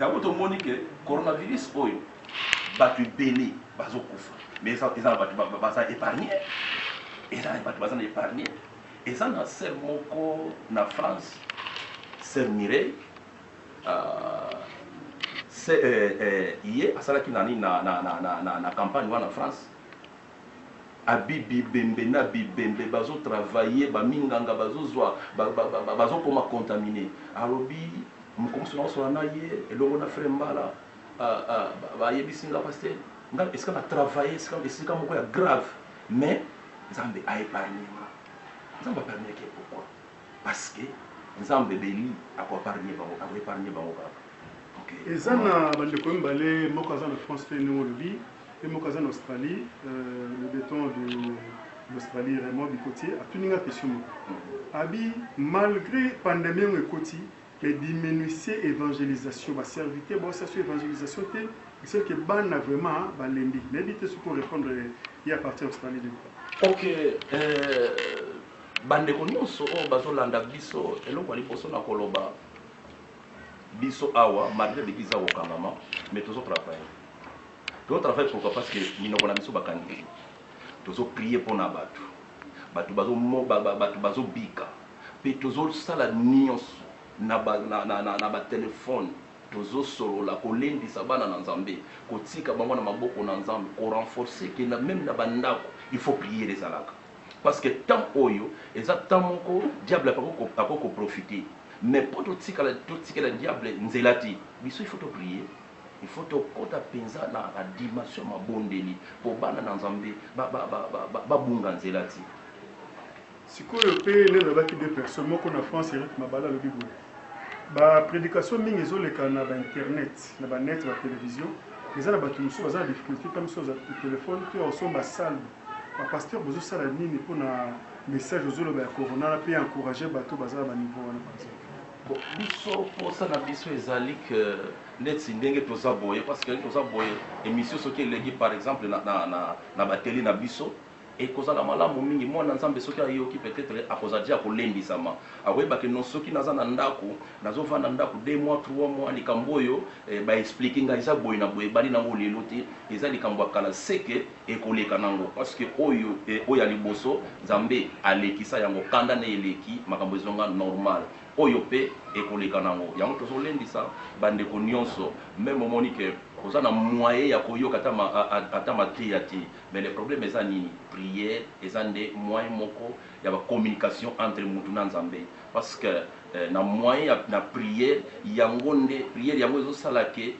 Yango to moni que coronavirus oyo batu ebele bazo kufa mais eza eza na batu baza epargne eza na batu baza na epargne eza na sœur moko na France sœur Mireille uh, se, eh, eh, ye asalaki na nini na, na, na, na, na, na campagne wana France Abby bibembe n'a bibembe bazo travailler ba minganga bazo zua bazo koma contamine alobi mokolo mosusu nako solola n'a ye elongo n'a frère mbala ba yebisi nga pasteur nga esika na travailler esika moko ya grave mais nzambe a epargne nga nzambe a permettre pourquoi Parce que nzambe beli ako apargne bango ako epargne bango kaka ok eza na ba ndeko mibale moko aza na France pe ndenge olobi pe moko aza na Australie euh, le beton de l'Australie Raymond Bikotie atuni nga question moko mm. abi malgré pandemie yango ekoti Mais diminuisez evangelisation ba serviteur bao sala sur evangelisation te mais ce que bana vraiment ba lembi nayebi te soki ko repondre ye à partir ya Australie nini. Ok euh, ba ndeko nionso oyo bazo landa biso eloko ya liboso na koloba biso awa malgré depuis eza kokangama mais tozo travailler tozo travailler pourquoi parce que minoko na biso bakangi tozo prier mpo na bato bato bazo bato bazo bika pe tozo sala nioso na ba na na na ba telephone tozo solola ko lendisa bana na nzambe ko tika bango na maboko na nzambe ko renforce que na meme na ba ndaku il faut priere ezalaka parce que temps oyo eza temps moko diable ako ko profite mais po to tikala to tikela diable nzela te biso il faut to prie il faut to kota penza na ba dimension ma bondeli po bana na nzambe ba ba ba ba bunga nzela te Sikoyo pe nde nalobaki deux personnes moko na France Eric Mabala alobi boye ba predication mingi ezoleka na ba internet na ba net ba television eza na batu mosusu baza na difficulté ta mosusu aza telephone to ya osomba salbe ba pasteur bozosala nini pona message ozoloba ya corona na pe ya encourager batu baza na ba niveau wana par exemple. Bon, biso posa na biso ezali que neti ndenge toza boye parce que toza boye emission soki eleki par exemple na na na, na bateli na biso Ekozala malamu mingi mwana Nzambe soki ayoki peut-etre akozala dejà kolembisama akoyeba que non soki naza na ndaku nazo vanda ndaku deux mois trois mois likambo oyo ba explique nga eza boye na boye ebandi nango lelo te eza likambo ya kala ce que ekoleka nango parce que oyo oyo ya liboso Nzambe alekisa yango kanda naye eleki makambo ezonga normal oyo pe ekoleka nango yango tozo lendisa ba ndeko nionso meme omoni que oza na moyen ya koyoka ata mateya te. Mais le problème eza nini? Prière eza nde moyen moko ya ba communication entre mutu na Nzambe parce que na moyen ya na prière yango nde prière yango ezo sala que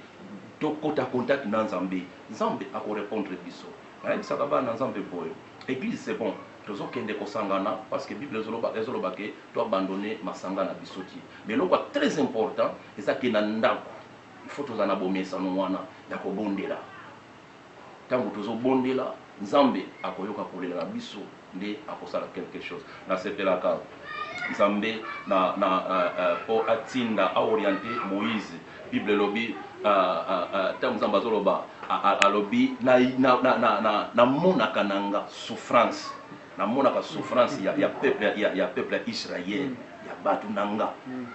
to kota contact na Nzambe. Nzambe ako repondre biso. Na yebisaka bana Nzambe boye eglise c'est bon tozo kende ko sangana parce que bible ezo loba ezo loba que to abandonner masanga na biso te mais eloko ya très important eza que na ndaku il faut tozala na bo mesano wana ya ko bondela. tangu tozo bondela nzambe akoyoka kolela na biso nde akosala quelque chose na sepelaka nzambe na na po atinda a oriente moise bible elobi tangu nzambe azo loba alobi na na na na na monaka nanga souffrance na monaka souffrance ya ya peuple ya ya peuple ya israel ya batu nanga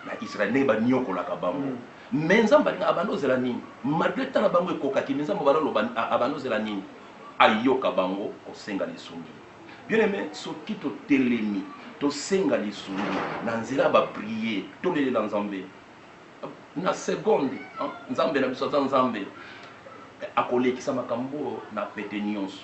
na israel nde ba niokolaka bango Mais nzambe alinga abanda ozela nini malgre temps na bango ekokaki mais nzambe obanda oloba abanda ozela nini ayoka bango kosenga lisungi bien aime soki totelemi tosenga lisungi na nzela ya ba prie tolelela nzambe na seconde nzambe na biso aza nzambe akolekisa makambo oyo na pete nionso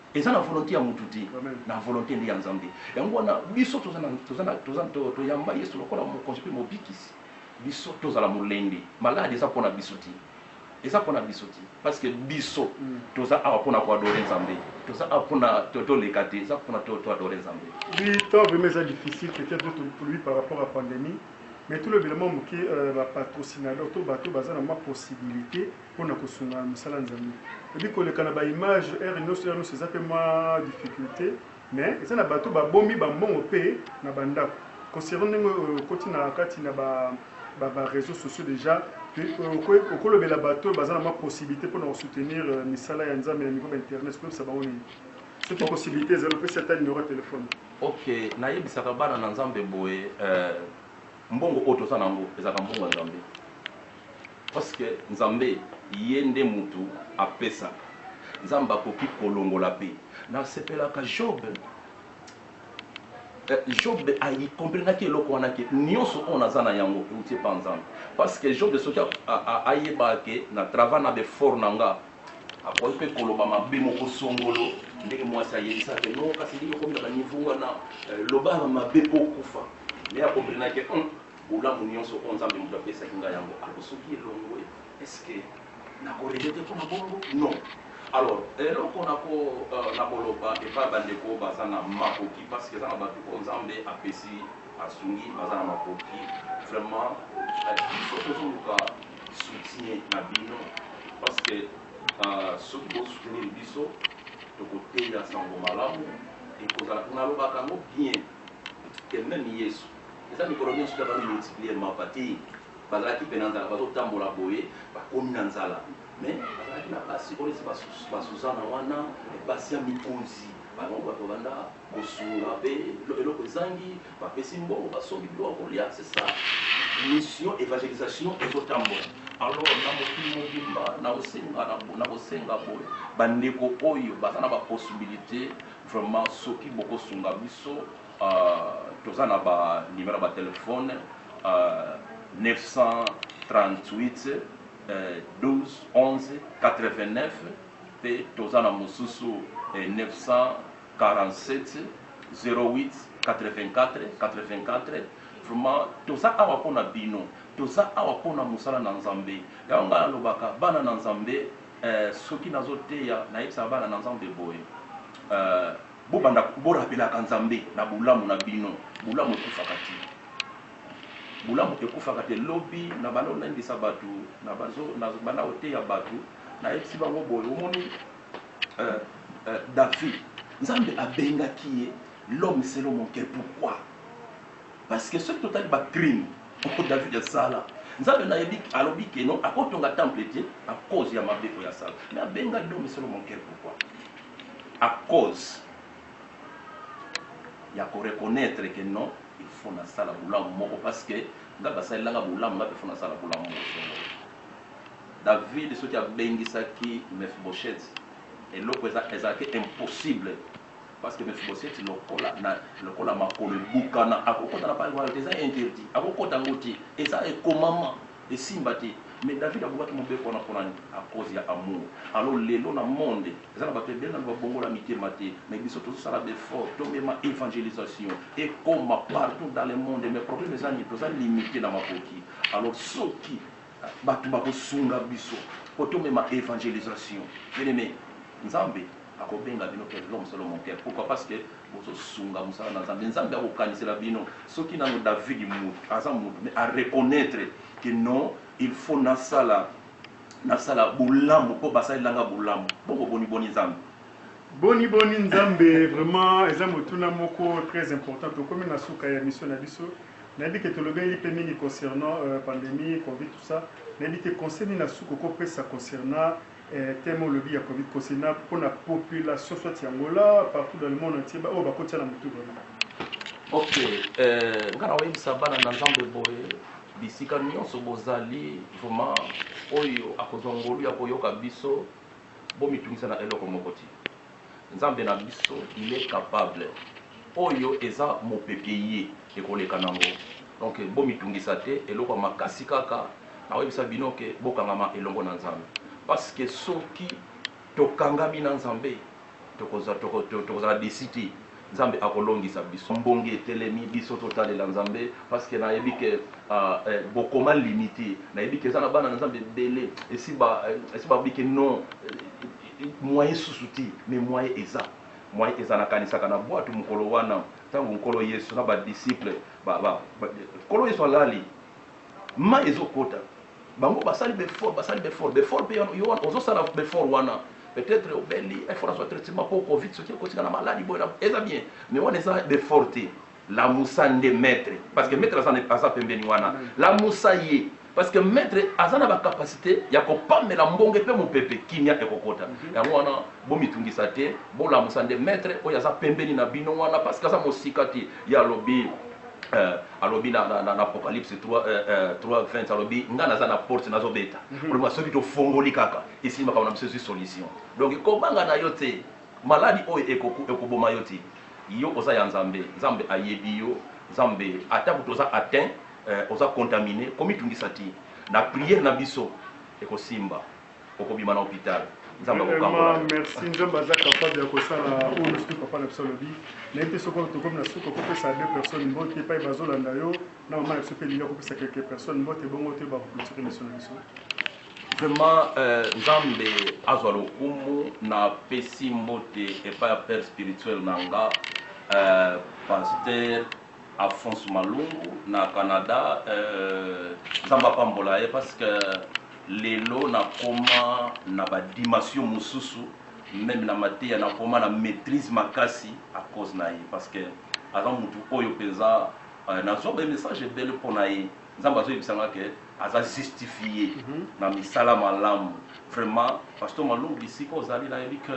Eza na volonte ya mutu te na volonte nde ya nzambe yango wana biso toyamba yesu lokola mokonzi pe mobikisi biso tozala molende malade eza pona biso te eza pona biso te paske biso toza awa pona ko adore nzambe toza awa pona toleka te eza pona to adore nzambe oui temps vraiment eza difficile peut etre biso tolobi par rapport ya pandemie mais tolobela mua muke ba patrocinador to batu baza na mua possibilite mpo na kosunga mosala ya Nzambe. Oyebi koleka na ba images heure nioso heure nioso eza pe mwa difficulte mais eza na bato ba bombi ba mbongo pe na ba ndako concernant ndenge oyo okoti na kati na ba ba reseaux sociaux dejà oko lobela bato oyo baza na mwa possibilite mpo na ko soutenir misala ya Nzambe na niveau ba internet oko yebisa bango nini soki possibilite ezali opesi ata numero ya telephone. Ok na yebisaka bana na Nzambe boye mbongo oyo toza na yango ezalaka mbongo ya Nzambe. Puisque Nzambe ye nde mutu apesaka, Nzambe akoki kolongola pe. Nasepelaka Job eh, Job a comprenaki eloko wana ke nionso oyo naza na yango ewuti epa Nzambe. Puisque Job soki ayebaka ke na travail na b'efforts na nga, akoki pe koloba mabe moko songolo ndenge muasi ayebisaka ke non kasi ndenge okomi na ba niveau wana, loba mabe po okufa. Mais a comprenaki ke hum! Bolamu nionso oyo nzambe mutu apesaki nga yango alors soki elongwe est ce que nako regrette pona bongo non alors eloko nako nako loba epa ba ndeko baza na makoki parce que eza na batu oyo nzambe apesi asungi baza na makoki vraiment biso tozo luka soutien na bino parce que soki bo soutenir biso toko teya sango malamu ekozala nalobaka yango bien que meme yesu Eza mikolo nionso te bazo multiplier mapa te bazalaki pe na nzala bazo tambola boye bakomi na nzala mais bazalaki na basi oyo neti ba Suzana wana basi ya mikonzi bango batu babanda kosunga pe eloko ezangi bapesi mbongo basombi biloko ya kolia c'est ça mission evangelisation ezo tambola alors na mokili mobimba nako senga boye ba ndeko oyo baza na ba possibilite vraiment soki boko sunga biso Toza na ba numero ya ba telephone 938 12 11 89 pe toza na mosusu 947088484 vraiment toza awa mpo na bino toza awa mpo na mosala na nzambe yango ngai nalobaka bana na nzambe eh, soki nazoteya nayebisaka bana na nzambe boye eh, Bobanda bo rapelaka Nzambe na bolamu na bino. Bolamu ekufaka te. Bolamu ekufaka te. Lobi na banda olendisa batu, na bazo na banda koteya batu, na yebisi bango boye, omoni euh euh David, Nzambe abengaki ye l'homme selon mon coeur pourquoi? Parce que soki totali ba crime oyo David asala, Nzambe na yebi alobi que non, akotonga temple te à cause ya mabe oyo asala. Mais abenga l'homme selon mon coeur pourquoi? A cause ya ko reconnaitre que non il faut na sala bolamu moko parce que nga ba salela nga bolamu nga pe faut na sala bolamu moko songolo. David soki a bengisaki Mephibosheth eloko eza ezalaki impossible parce que Mephibosheth lokola na lokola makolo ebukana ako kota na palais royal te eza interdit ako kota ngo te eza ekomama. Esimba te mais David abukaki mobeko wana pona nini a cause ya amour alors lelo na monde eza na batu ebele nanu ba bongola mitema te mais biso tozo sala ba effort to mema evangelisation ekoma partout dans le monde mais problème eza nini toza limite na makoki alors soki batu bako sunga biso po to mema evangelisation bien aime nzambe Ako benga bino pe l'homme selon mon cœur pourquoi parce que bozo sunga musala na Nzambe Nzambe ako kanisela bino soki nanu David mutu aza mutu mais a reconnaitre que non il faut na sala na sala bolamu po basalela nga bolamu bongo boni boni Nzambe Boni boni Nzambe vraiment eza motuna moko très important tokomi na suka ya emission na biso nayebi que tolobeli pe mingi concernant pandemie covid tout ça nayebi te conseil nini ya suka oko pesa concernant Eh temo olobi ya komi kose na pona population soit ya Angola partout dans le monde entier ba oyo ba kotia na mutu vraiment. Ok eh nga na oyebisa bana na Nzambe boye bisika nyonso bozali vraiment oyo akozwa ngolu ya koyoka biso bomitungisa na eloko moko ti. Nzambe na biso il est capable oyo eza mopepe eye ekoleka nango donc bomitungisa te eloko ya makasi kaka nakoyebisa bino ke bokangama elongo na nzambe parce que soki tokangami na nzambe tokozala desi te Nzambe akolongisa biso. Mbonge etelemi biso totalela nzambe parce que na yebi que bokoma limite na yebi que eza na bana na nzambe ebele esi ba esi ba lobi que non moyen susu te mais moyen eza moyen eza na kanisaka na buatu mokolo wana tangu nkolo yesu na ba disciples ba ba nkolo yesu alali mayi ezo kota Bango basali b'effort basali b'effort b'effort pe yo wana ozo sala b'effort wana peut etre obeli il faut nazua traitement po covid soki ekoti nga na malade boye na eza bien mais wana eza b'effort te lamusa nde maitre parce que maitre aza aza pembeni wana lamusa ye parce que maitre aza na ba capacite ya ko pamela mbonge pe mupepe kimia ekokota yango wana bo mitungisa te bo lamusa nde maitre oyo aza pembeni na bino wana parce que aza mosika te ye alobi euh, Alobi na Apocalypse 3, 20, alobi, Ngai naza na porte, nazo beta. Koloba soki to fongoli kaka, esili makambo na biso ezui solution. Donc ko banga na yo te. Maladi oyo eko eko boma yo te. Yo oza ya Nzambe. Nzambe a yebi yo. Nzambe ata kutu oza atteint, oza contamine, ko mi tungisa te. Na prière na biso eko simba. okobima na hopital nzambe akokambola yo merci nzambe aza capable ya kosala oyo nyonso te papa na biso alobi nayebi te soki tokomi na suka kopesa deux personnes mbote epai bazolanda yo na mama na biso mpe elingi akopesa quelques personnes mbote bongo toyeba kokulture miso na biso vraiment euh, nzambe azwa lokumu na pesi mbote epai ya père spirituel na nga euh, pasteur Alphonse Malungu na Canada euh nzambe apambola ye parce que lelo na koma na ba dimension mususu meme na mateya na koma na maitrise makasi à cause na ye parce que aza mutu oyo penza euh, na zwa ba message ebele mpo na ye nzambe azo yebisa nga que aza justifie mm -hmm. na misala malamu vraiment pasteur Malungu bisika ozali nayebi que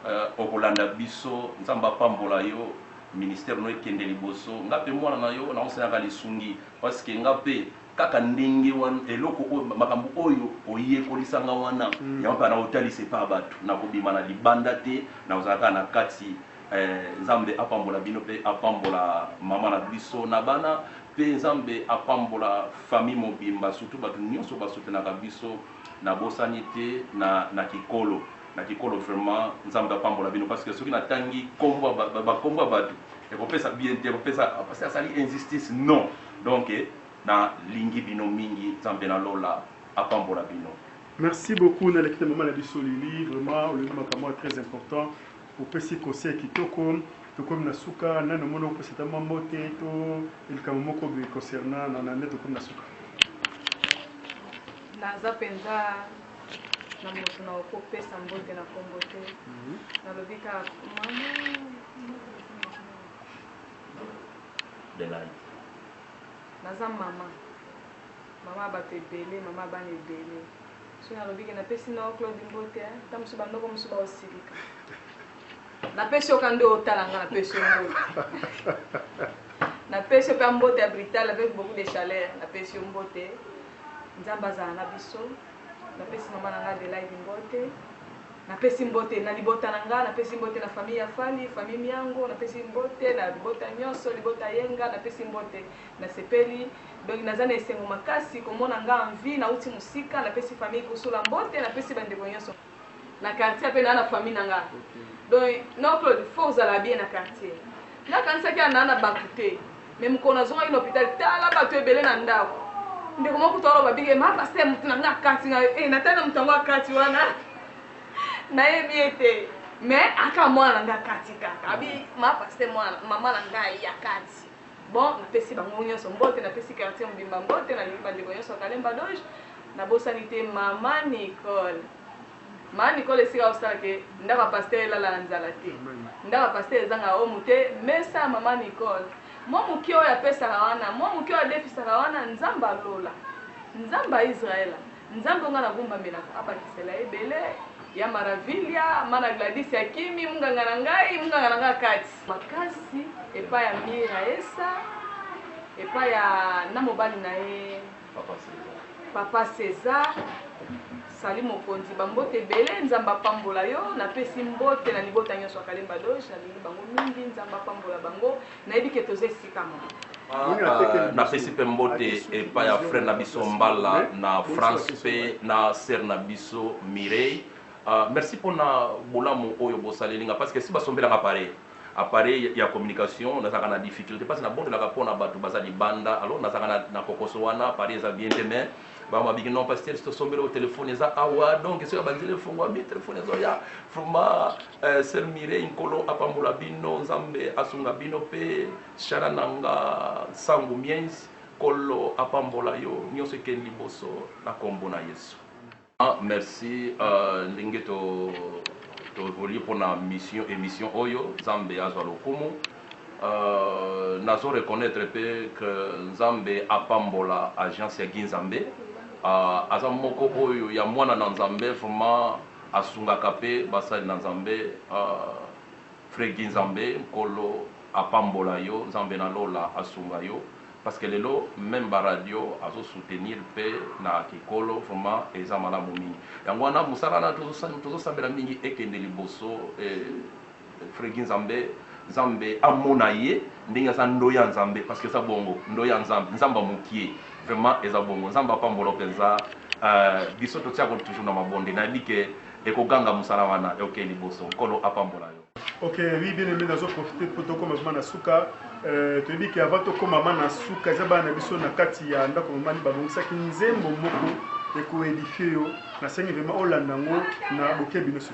euh, okolanda biso nzambe apambola yo Ministère no ekende liboso nga pe mwana na yo nao sengaka lisungi parce que nga pe kaka ndenge wana eloko oyo makambo oyo oyekolisa nga wana yango pe nao talisa epa batu nako bima na libanda te nako zala kaka na kati eh nzambe apambola bino pe apambola maman na biso na bana pe nzambe apambola famille mobimba surtout batu nionso ba soutenaka biso na bosani te na na kikolo. na kikolo vraiment nzambe apambola bino parce que soki na tangi kombo ba kombo ya batu ekopesa bien te ekopesa parce que asali injustice non donc na lingi bino mingi nzambe na lola apambola bino merci beaucoup na lekita mama na biso lili vraiment olobi makambo très important opesi conseil kitoko tokomi na suka nani omoni okopesa ta mwa mbote to likambo moko boye concernant na nani tokomi na suka naza mpenza na moto na okopesa mbote na kombo te nalobi ka naza mama mama bato ebele mama bana ebele soki nalobi ke napesi na yo claude mbote ta mosusu bandoko mosusu baosilika napesi oka nde otala nga napesi yo mbote napesi yo mpe mbote ya brital avec beaucoup de chaleur napesi yo mbote Nzambe azala na biso. Napesi mama na nga Adelaide mbote. Napesi mbote na libota na nga, napesi mbote na famille ya Fally, famille Miango, napesi mbote na libota nionso, libota Yenga, napesi mbote. Nasepeli. Donc naza na esengo makasi komona nga en vie, nauti musika, napesi famille Kusula mbote, napesi ba ndeko nionso. na quartier ape na na famille na nga donc non Claude faut ozala bien na quartier nga kanisaki ana na batu te mais mokolo nazongaki na hôpital tala batu ebele na ndako ndeko moko kutu aloba bige ma pasteur moto na nga akati nga eh natali na moto yango akati wana nayebi ye te mais aka mwana na nga akati kaka abi ma pasteur mwana mama na ngai akati Bon, napesi bango nionso mbote, napesi quartier mobimba mbote, nalingi ba ndeko nionso ya Kalemba Doge, nabosani te mama Nicole. Mama Nicole esika osala que ndako ya pasteur elala na nzala te. Ndako ya pasteur ezanga omo te, mesa ya mama Nicole. Mua mukie oyo apesaka wana, mua mukie oyo adefisaka wana, Nzambe ya lola, Nzambe ya Israel, Nzambe onga na gumbamelaka abakisela ye ebele ya maravilia mana gladis ya kimi munganga na ngai munganga na ngai kati makasi epai ya mira esa epai ya na mobali na ye papa cesar sali mokonzi bambote ebele nzambe apambola yo napesi mbote na libota nyonso ya kalemba doge nalingi bango mingi nzambe apambola bango Nayebi que toza esika moko. Napesi mpe mbote epai ya frere na biso Mbala na France mpe na sere na biso Mireille. Uh, merci mpona bolamu oyo bosaleli nga parce que si basombelaka appareil appareil ya communication nazalaka na difficulté parce nabotelaka mpona bato baza libanda alors nazalaka na, na kokoso wana appareil eza bien te mais ba ma biki non pasteur to sombela o telephone eza awa donc soki abanzeli efongwami telephone ezo ya vraiment euh, sœur Mireille nkolo apambola bino nzambe asunga bino pe shara nanga sangu miens kolo apambola yo nyonso ekeni liboso na kombo na yesu ah, merci uh, ndenge to toevolue mpo na mission émission oyo nzambe azwa lokumu Nazo reconnaitre pe que Nzambe apambola agence ya Guy Nzambe aza moko oyo ya mwana na Nzambe vraiment asungaka pe basali na Nzambe Frère Guy Nzambe nkolo apambola yo Nzambe na lola asunga yo parce que lelo meme ba radio azo soutenir pe na ekolo vraiment eza malamu mingi yango wana musala na tozo sambela mingi ekende liboso. Freguy nzambe nzambe amona ye ndenge aza ndoyi ya nzambe parce que eza bongo ndoyi ya nzambe nzambe ya mukie vraiment eza bongo nzambe apambola yo penza euh biso totia ko toujours na mabonde nayebi que eko ganga musala wana oke liboso nkolo apambola yo. Ok oui bien aime nazo profite po tokoma vraiment na suka euh toyebi ke avant tokoma vraiment na suka eza bana na biso na kati ya ndako mama ni babongisaki nzembo moko eko edifie yo nasengi vraiment olanda yango na bokebi nioso.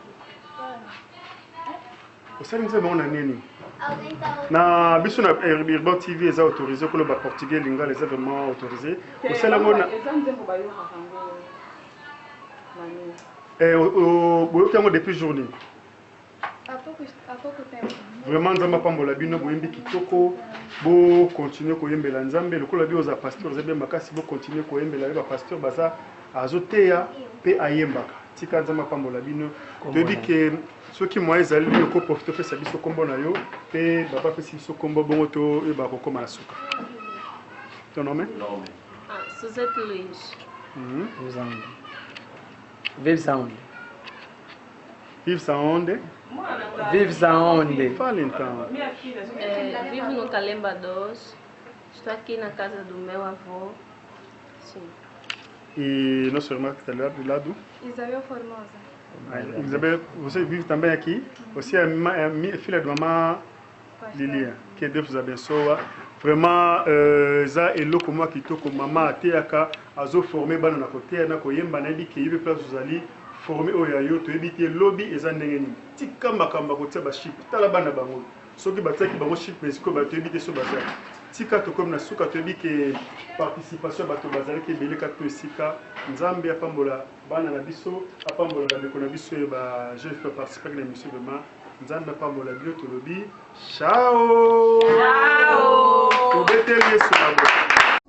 osali nzembo yango na nini na biso na urban tv eza autorisé koloba portugais lingala eza vraiment autorisé osala yango na eh, boyoki yango depuis jour nini vraiment nzambe apambola bino boyembi kitoko bokontinue koyembela nzambe lokola bi oza pasteur oza bie makasi bokontinue koyembela ye bapasteur baza azoteya mpe ayembaka tika nzambe apambola bino toyebi ke soki moyen ezali bino ko profite opesa biso nkombo na yo mpe baba apesi biso nkombo bongo toyeba kokóma na suka ton nome ah, suzette louis mhm. vive saonde vive saonde vive saonde fale ntango eh, vive no kalemba dos estou aqui na casa do meu avô E nossa irmã que está ali do lado. Isabel Formosa. Ah, Isabel, você vive também aqui? Você é, é filha de mamã Lilia. Que Deus abençoe. Vraiment, euh, eza eloko mwa kitoko mama ateyaka azoforme bana na koteya na koyemba nayebi ke yebi place ozali forme oyo ya yo toyebi te lobi eza ndenge nini tika makambo ya kotia baship tala bana bango Soki batiaki bango chip mais sikoyo bato toyebi te soki baza tika tokomi na suka toyebi ke participation ya bato bazalaki ebele kati to esika nzambe apambola bana na biso apambola bandeko na biso ye ba jeune fille baparticipaki na emission vraiment nzambe apambola bino tolobi chao tobeteli yesu na bo